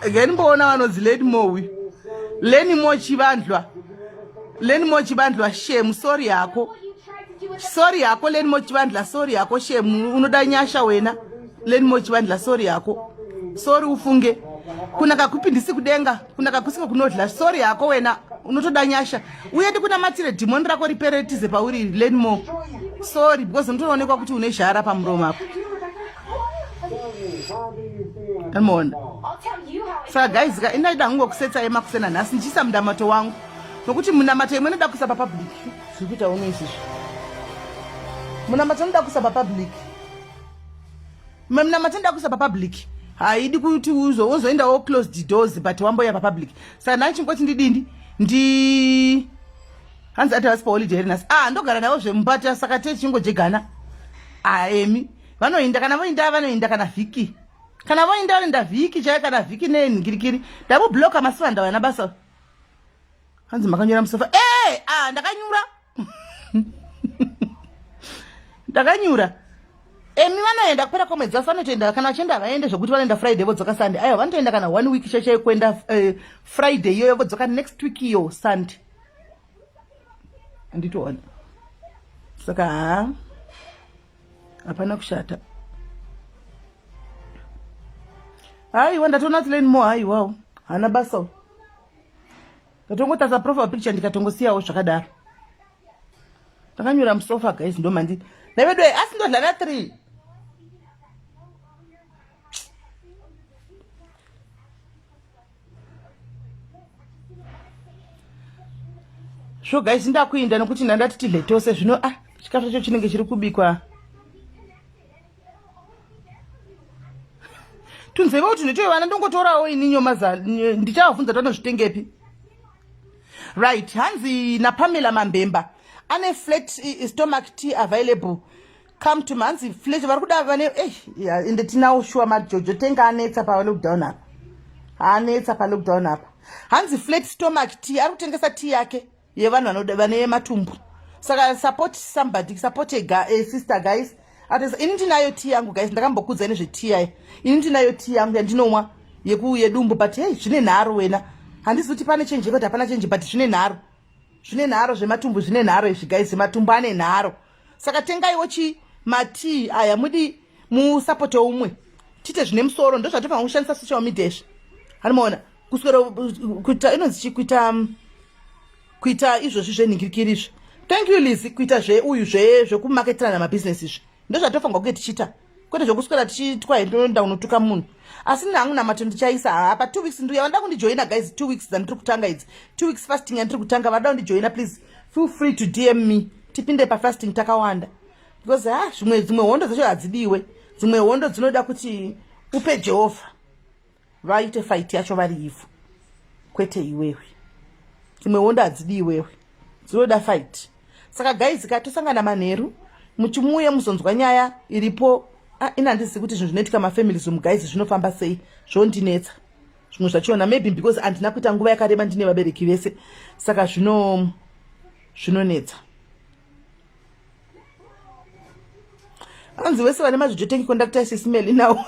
[SPEAKER 1] again mboona vanonzi lady mowi leni mo chivandlwa leni mo chivandlwa shemu sori yako sori yako leni mo chivandla sori yako shemu unoda nyasha wena leni mo chivandla sori yako sori ufunge kuna kakupindisi kudenga kuna kakusiko kunodla sori yako wena unotoda nyasha uye ndikunamatire dhimoni rako ripere tize pauri leni mo sori because unotoonekwa kuti une zhara pamuromo apo Amona. Saka guys ka indaida hangu kusetsa yema kusena nhasi ndichisa mundamato wangu. Nokuti munamato imwe inoda kuisa papublic. Zviri kuita uno izvi. Munamato inoda kuisa papublic. Munamato inoda kuisa papublic. Haidi kuti uzo wozoenda wo close the doors but wamboya papublic. Saka nhasi chingoti ndidindi ndi hanzi ati hasi pa holiday nhasi. Ah ndogara nawo zvemubata saka techingojegana. Ah emi. vanoinda kana voinda vanoinda kana vhiki kana voinda vanoinda vhiki chaiyo kana vhiki nenhingirikiri ndamubloka masivanda vana basa hanzi makanyura musofa e eh, a ah, ndakanyura ndakanyura emi vanoenda kupera kwemwedzi vasi vanotoenda kana vachienda havaende zvekuti vanoenda friday vodzoka sunday aiwa vanotoenda kana one week chaichai kuenda uh, eh, friday iyoyo vodzoka next week iyo sunday anditoona saka haa hapana kushata haiwa ndatoona kuti lane more haiwawo hana basawo ndatongotasa profile picture ndikatongosiyawo zvakadaro ndakanyura musofa guys ndomandi navedoe asi ndodla na three svo guys ndakuinda nokuti ndandati tidle tose zvino a ah, chikafu chacho chinenge chiri kubikwa tunzeva kuti ndotoivana ndongotorawo ini nyomaza ndichavabvunza tanozvitengepi right hanzi napamela mambemba ane flat eh, stomach tea available come to manzi flesh vari kuda vane eh, ende tinawo shuwa majojo tenga anetsa palockdown apa anetsa palockdown apa hanzi flat stomach t ari kutengesa t yake yevanhu vane matumbu saka support somebody support a, guy, a sister guys atesa ini ndinayo t yangu guys ndakambokudza ine zveti yaye ini ndinayo t yangu yandinomwa yedumbu but hei zvine nharo wena handizi kuti pane chenji yekuti hapana chenji but zvine nharo zvine nharo zvematumbu zvine nharo izvi guys matumbu ane nharo saka tengaiwo chi matii aya mudi musapote umwe tiite zvine musoro ndozvatofanira kushandisa social media izvi hanimaona kuswera kuita inonzi chi kuita um, kuita izvozvi zvenhingirikiri izvi thank you lizy kuita zveuyu zvekumaketirana mabhizinesi izvi ndozvatofanirwa kunge tichiita kwete zvokuswera tichiitwa here toenda kunotuka munhu asi nini hangu namato ndichaisa haa pa two weeks nduya vanoda kundijoina guys two weeks dzandiri kutanga idzi two weeks fasting yandiri kutanga vanoda kundijoina please feel free to dm me tipinde pafasting takawanda because ha ah, zvimwe dzimwe hondo dzacho hadzidiwe dzimwe hondo dzinoda kuti upe jehovha vaite fight yacho vari ivhu kwete iwewe imwe wondo hadzidi iwewe dzinoda fight saka guys ka tosangana manheru muchimuuye muzonzwa nyaya iripo ah, ini handizivi kuti zvinhu zvinoitika mafamilies omu guys zvinofamba sei zvondinetsa zvimwe zvachona maybe because handina kuita nguva yakareba ndine vabereki vese saka zvino zvinonetsa hanzi wese vane mazvijo tengi conductor sismeli now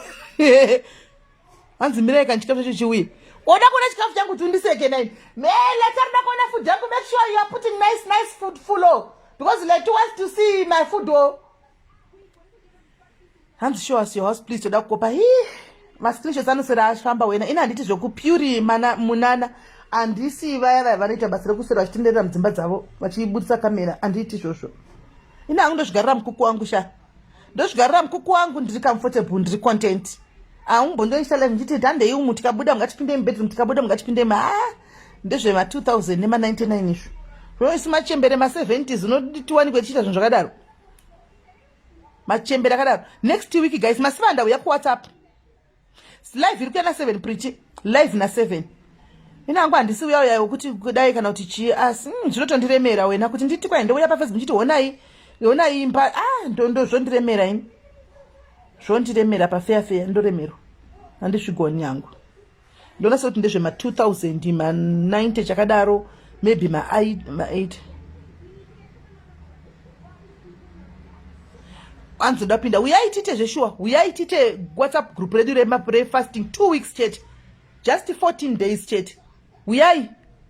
[SPEAKER 1] hanzi mirai kani chikafu chacho chiuye oda kuona chikafu changu kuti undiseke nai me leta rida kuona food yangu make sure you are putting nice nice food fulo because leta wants to see my food o oh. hanzi show us your house please toda kukopa hi mascreenshots anosera ashamba wena ini handiti zvekupuri munana handisi vaya vaya vanoita basa rekusera vachitenderera mudzimba dzavo vachibudisa kamera handiti izvozvo ini hangu ndozvigarira mukuku wangu shaa ndozvigarira mukuku wangu ndiri comfortable ndiri content aungbondoisa live ndichiti tandei umu tikabuda mungatipindei mubedroom tikabuda mungatipindei ma ah, ndezvema 2000 nema 99 izvo zvoisi machembere ma 70s unoti tiwanikwe tichiita zvinhu zvakadaro machembere akadaro next week guys masiva ndauya kuwhatsapp live iri kuya na seven prichi live na seven ini hangu handisi uya uya wekuti kudai kana kuti chii asi mm, zvinotondiremera mm, wena kuti nditi kwai ndouya pafacebook ndichiti honai honai imba a ah, ndondo zvondiremera ini zvondiremera pafeya feya ndoremerwa handisvigoni yangu ndona sekuti ndezvema 2000 ma 90 chakadaro maybe ma 8 anzi ndapinda uyai tiite zveshuwa uyai tiite whatsapp group redu refasting two weeks chete just 14 days chete uyai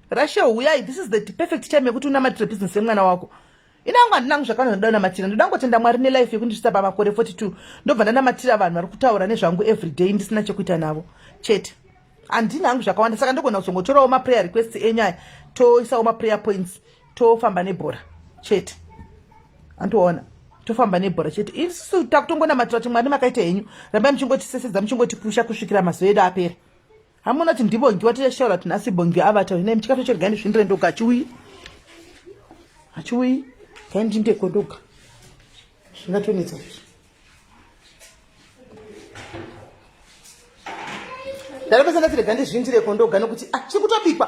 [SPEAKER 1] rashel uyai this is the perfect time yekuti unamatire business yemwana wako inangu handinangu zvakana zvandoda namatira ndoda ngotenda mwari nelife yekundisvitsa pamakore 42 ndobva ndanamatira vanhu vari kutaura nezvangu everyday ndisina chekuita navo chete handinangu zvakawanda saka ndogona kuzongotorawo maprayer request enyaya toisawo maprayer points tofamba nebhora chete andiona tofamba nebhora chete isusu takutongonamatira kuti mwari makaita henyu rambai muchingotisesedza muchingotipusha kusvikira mazuva edu apera hamuna kuti ndibongiwa tichashaura kuti nhasi bongiwa avatauri nai muchikatocherega ndizvindire ndoga achiuyi achiuyi kaindindeko ndoga zvingatonetsa izvi ndaropesa ndatirega ndizvindireko ndoga nokuti ah, chiri kutobikwa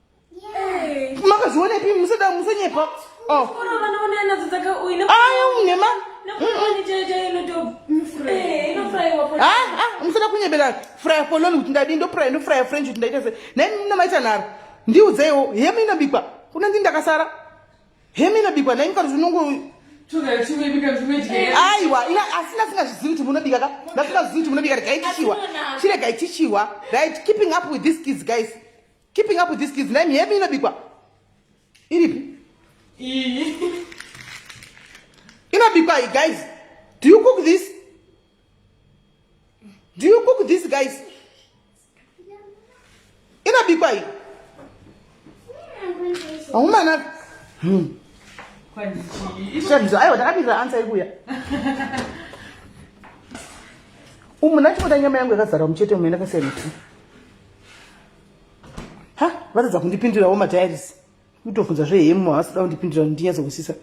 [SPEAKER 3] makazvionepi
[SPEAKER 1] musada musanyepa oh. aunema musada kunyebera frya poloni kuti ndadii ndopry ndofrya french kuti ndaita se nai namaita nharo ndiudzeiwo hemu inobikwa kuna ndini ndakasara hemu inobikwa nai mukati zvinongo aiwa asi ndasingazvizivi kuti munobika ka ndasingazvizivi kuti munobika regai tichiwa chiregai tichiwa right keeping up with these kids guys Keeping up with these kids name yemi inobikwa iripi iyi inobikwa iyi guys do you cook this do you cook this guys inobikwa iyi aumana hmm. shamzo aiwa takapindira ansa ikuya umu nachimota nyama yangu yakazara muchete umu yandakasiya miti ha vatadza kundipindirawo madiaries kutofunza zve hemu havasi kuda kundipindira kuti ndinyatso kusisa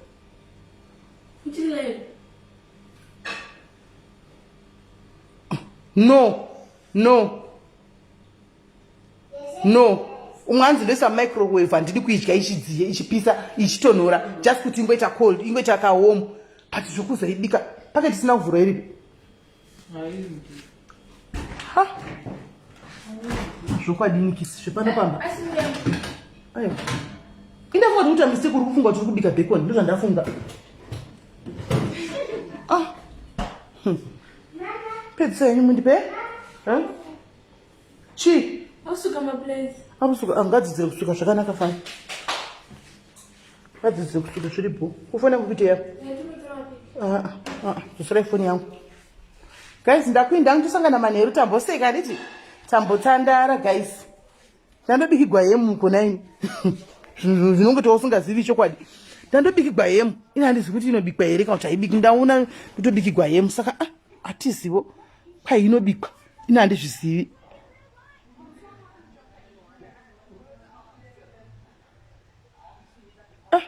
[SPEAKER 1] no no no umwe anzi ndoisa microwave handidi kuidya ichidziye ichipisa ichitonhora just kuti ingoita cold ingoita kahomu but zvokuzoibika pake tisina kuvhura iripi Ha. Zvokwadini kisi zvepano pamba. Ayo. Indafunga kuti mistake uri kufunga kuti uri kubika bacon ndizvo ndafunga. Ah. Hmm. Pedzisa yenyu mundipe?
[SPEAKER 2] Huh? chii
[SPEAKER 1] akusuka
[SPEAKER 2] maplace
[SPEAKER 1] akusuka angadzidzire ah, kusuka zvakanaka fani ngadzidzire kusuka zviri bho kufona kukuiteya zosirai foni yangu guys ndakuinda ndosangana manheru tamboseka handiti tambotandara guys ndandobikigwa hemu konaini zvinhu zvinonge tousingazivi chokwadi ndandobikigwa hemu ini handizivi kuti inobikwa here kana kuti haibiki ndaona kutobikigwa hemu saka ah, hatizivo kwai inobikwa ini handizvizivi ah,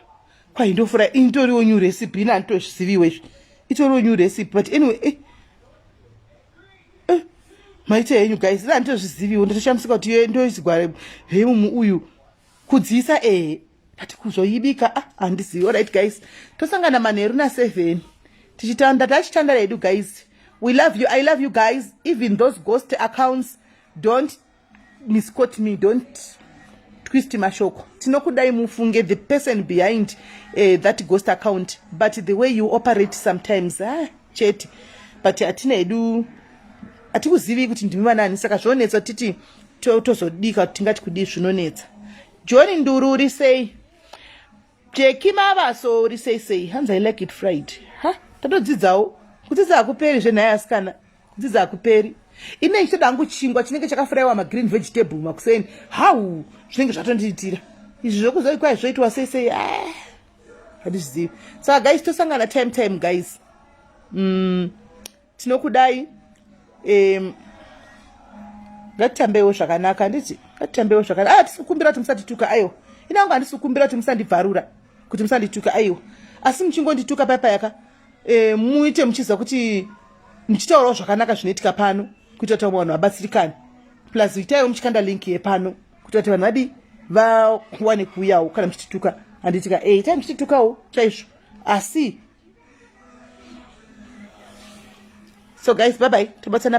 [SPEAKER 1] kwai ndofura ini toriwo new recipe ini handitozviziviwo izvi itoriwo new recipe but anyway eh. Eh. maita henyu guys ini handitozviziviwo ndatoshamisa kuti ndoizigware hemu uyu kudziisa ee ndati kuzoibika ah handizivi orit guys tosangana manheru naseven tichitanda tachitanda redu guys we love you i love you guys even those ghost accounts don't miscot me don't twist mashoko tinokudai mufunge the person behind uh, that ghost account but the way you operate sometimes ah. chete but hatina hedu hatikuzivi kuti ndimi vanani saka zvonetsa titi tozodika kuti tingati kudii zvinonetsa john nduru uri sei jeki mavaso uri sei sei hanzi i like it fried ha tatodzidzawo kudzidza hakuperi zvenhaya asikana kudzidza hakuperi ine ichitoda hangu chingwa chinenge chakafuraiwa magreen vegetable makuseni hau zvinenge zvatondiitira izvi zvokuzoikwai zvoitwa sei sei ah. handizvizivi saka guys tosangana time time guys mm, tinokudai um, ngatitambewo zvakanaka handiti ngatitambewo zvakanaka ah, tisikumbira kuti musatituka aiwa inangu handisikumbira kuti musandibvarura kuti musandituka aiwa asi muchingondituka paya payaka e, muite muchiziva kuti muchitaurawo zvakanaka zvinoitika pano kuitira kuti vamwe vanhu vabatsirikane plus itaiwo muchikanda link yepano kuita kuti vanhu vadii vawane kuuyawo kana muchitituka handitika e eh, itai muchititukawo chaizvo asi so guys bye bye tobatsana